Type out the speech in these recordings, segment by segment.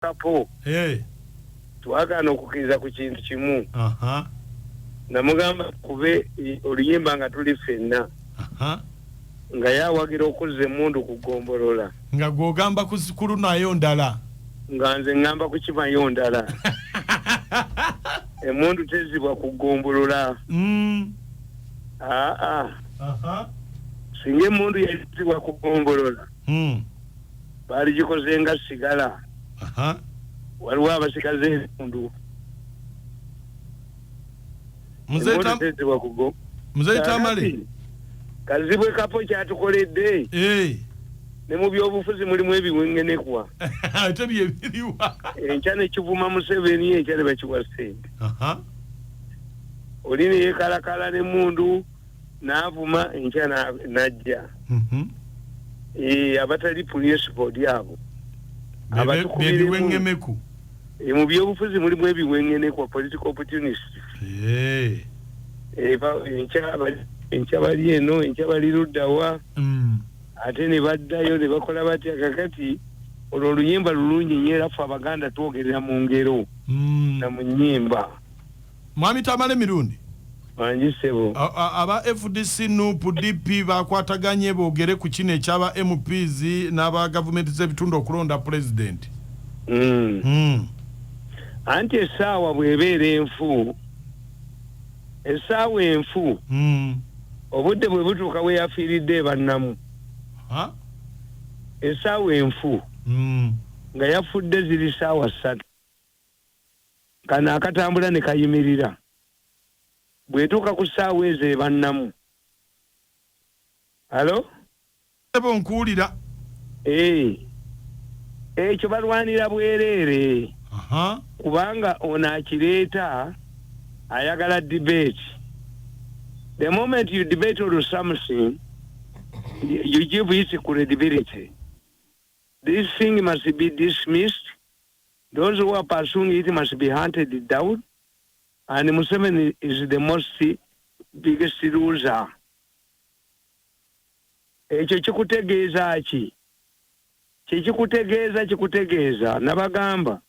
kapo eh. twagaana okukkiriza ku kintu kimu namugamba kube oluyimba nga tuli ffenna nga yawagira okuzza emundu ku gombolola nga gwogamba kulunayo ndala nga nze ngamba kukimayo ndala emundu tezibwa ku gombolola mm. aa singa emundu yazibwa ku gombolola mm. baaligikoze nga sigala waliwo abasikaze ebitundu muzeetamale kazibwe kapo kyatukoledde eh. ne mu byobufuzi mulimu ebiwengenekwa ate byebiriwa enkya nekivuma museveni enkya ne bakiwa sente oli neyekalakala ne mundu n'avuma enkya n'ajja mhm. eh, abatali principal lyabo abatukubiremuebiweŋemeku eh, mu byobufuzi mulimu ebiweŋenekwa political opportunist eh. enkya bali eno enkya bali luddawa mm. ate ne baddayo ne bakola batya kakati olwo oluyimba lulungi nyo era ffe abaganda twogerera mu ngero mm. na mu nyimba Mwami Tamale Mirundi. Wangi ssebo. Aba FDC, NUP, DP bakwataganye boogere ku kino eky'aba MPs n'aba gavumenti z'ebitundu okulonda pulezidenti. Hmm. Hmm. Anti essaawa bw'ebeera enfu, essaawa enfu, hmm. obudde bwe butuuka we yafiiridde ebannamu. Essaawa enfu nga yafudde ziri ssaawa ssatu. Kano akatambula ne kayimirira. Bw'etuuka ku ssaawa ezo eba nnamu. Halo? Ssebo nkuwulira. Eeh. Ekyo balwanira bwereere. Aha. Kubanga ono akireeta ayagala debate. The moment you debate on something, you give it credibility. This thing must be dismissed. Those who are pursuing it must be hunted down. And Museveni is the most biggest loser. Ekyo kikutegeeza ki? Kyekikutegeeza kikutegeeza nabagamba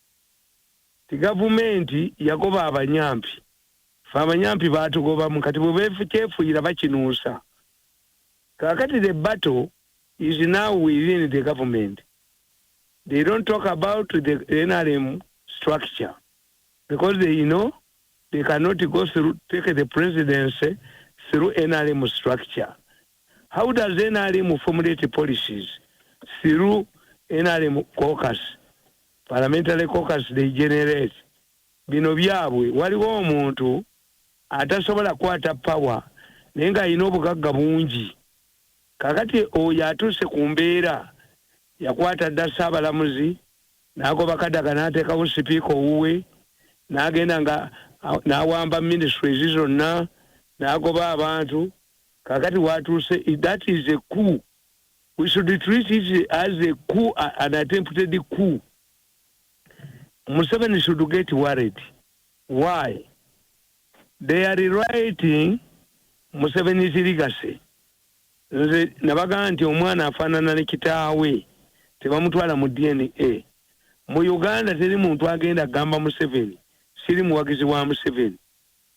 ti gavumenti yagoba abanyampi fe abanyampi baatugobamu kati bwebekyefuyira bakinuusa kakati the battle is now within the government They don't talk about the NRM structure because they know they cannot go through, take the presidency through NRM structure. How does NRM formulate policies through NRM caucus? Parliamentary caucus they generate. Bino byabwe waliwo omuntu atasobola kwata power naye nga alina obugagga bungi Kaakati oyo atuuse ku mbeera, yakwata dda Ssaabalamuzi, n'agoba Kadaga n'ateekawo Sipiika owuwe, n'agenda nga n'awamba Ministries zonna, n'agoba abantu, kaakati w'atuuse, that is a coup. We should treat it as a coup, an attempted coup. Museveni should get worried. Why? They are rewriting Museveni's legacy. Nze nabagamba nti omwana afaanana ne kitaawe, tebamutwala mu DNA. Mu Uganda teri muntu agenda gamba Museveni siri muwagizi wa Museveni.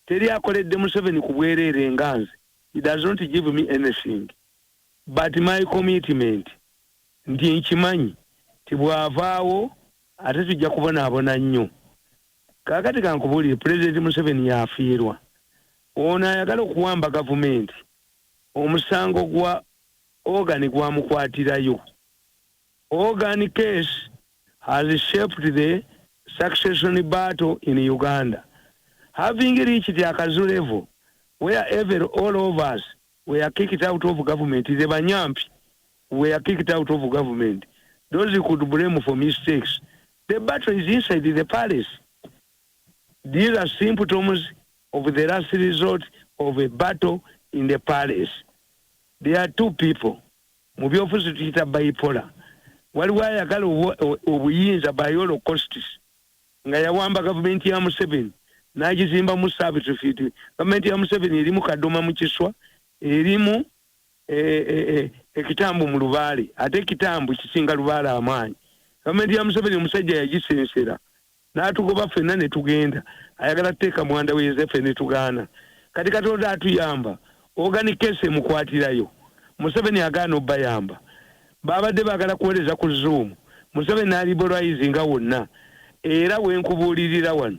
Teri akoledde Museveni ku bwereere nga nze. He does not give me anything but my commitment nti nkimanyi nti bw'avaawo ate tujja kubonaabona nnyo. Kakati kankubulire president Museveni yafiirwa ono ayagala okuwamba gavumenti omusango gwa Organ gwamukwatirayo. Organ case has shaped the succession battle in Uganda having reached a kazu level where every all of us were kicked out of government the banyampi were kicked out of government those could blame for mistakes The battle is inside the palace. These are symptoms of the last resort of a battle in the palace. There are two people. Mu byofuzi tuyita bipolar. Waliwo ayagala obuyinza by all costs nga yawamba gavumenti ya Museveni n'agizimbamu servitude. Gavumenti ya Museveni erimu kadoma mu kiswa, erimu ekitambo mu lubaale ate ekitambo kisinga lubaale amaanyi gavumenti ya museveni omusajja yagisensera n'atugoba ffenna ne tugenda ayagala tuteeka mwanda we yosefe ne tugaana kati katonda atuyamba ogani kesi emukwatirayo museveni agaana obayamba baabadde baagala kuweereza ku zoom museveni n'aliboraizi nga wonna era wenkubuulirira wano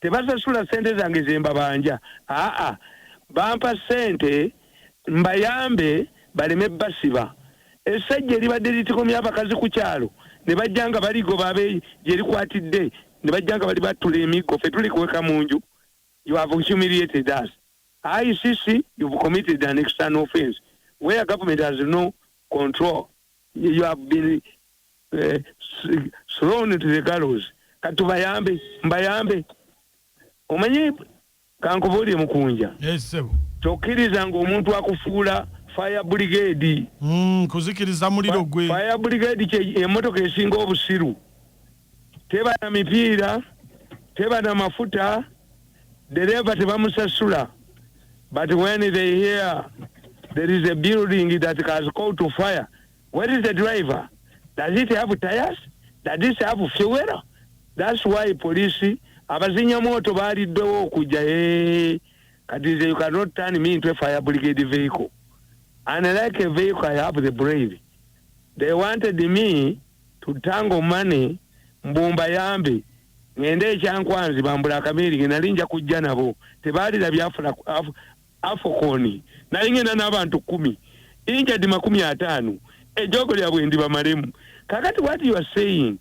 tebasasula sente zange zembabanja aa bampa sente mbayambe baleme basiba essajja eribadde litikomya abakazi ku kyalo ne bajja nga baligoba abe gye likwatidde ne bajja nga bali battula emiggo fe tuli kuweka mu nju you have humiliated us icc you've committed an external offense where government has no control you have been uh, thrown to the gallows kati tubayambe mbayambe omanyi kankubuulire mukunja tokkiriza ngaomuntu akufuula fire brigade mm, kuzikiriza muliro gwe fire brigade kye emotoka esinga obusiru teba na mipiira teba na mafuta dereva tebamusasula but when they hear there is a building that has called to fire where is the driver does it have tires does it have fuel that's why police abazinya moto baliddewo okujja hey, kati nze you cannot turn me into a fire brigade vehicle and like a vehicle i have the brain they wanted me to tangle money mbu mbayambe ngende ekyankwanzi bambula akabeeri nge nali nja kujja nabo tebaalira byafula afokoni nali ngenda n'abantu kumi injadi makumi ataano ejogo lyabwe ndi bamalemu kakati what you are saying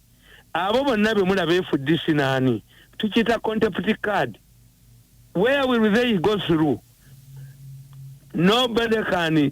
abo bonna bemula befuddisi naani tukiyita contempt card where will they go through nobody can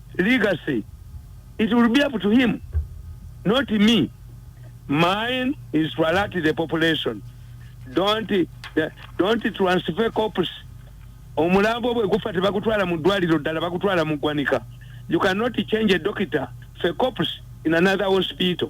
legacy it will be up to him not me mine is to alert the population don't don't transfer corpus omulambo bwe gufa tebagutwala mu ddwaliro ddala bagutwala mu ggwanika you cannot change a doctor fe corpus in another hospital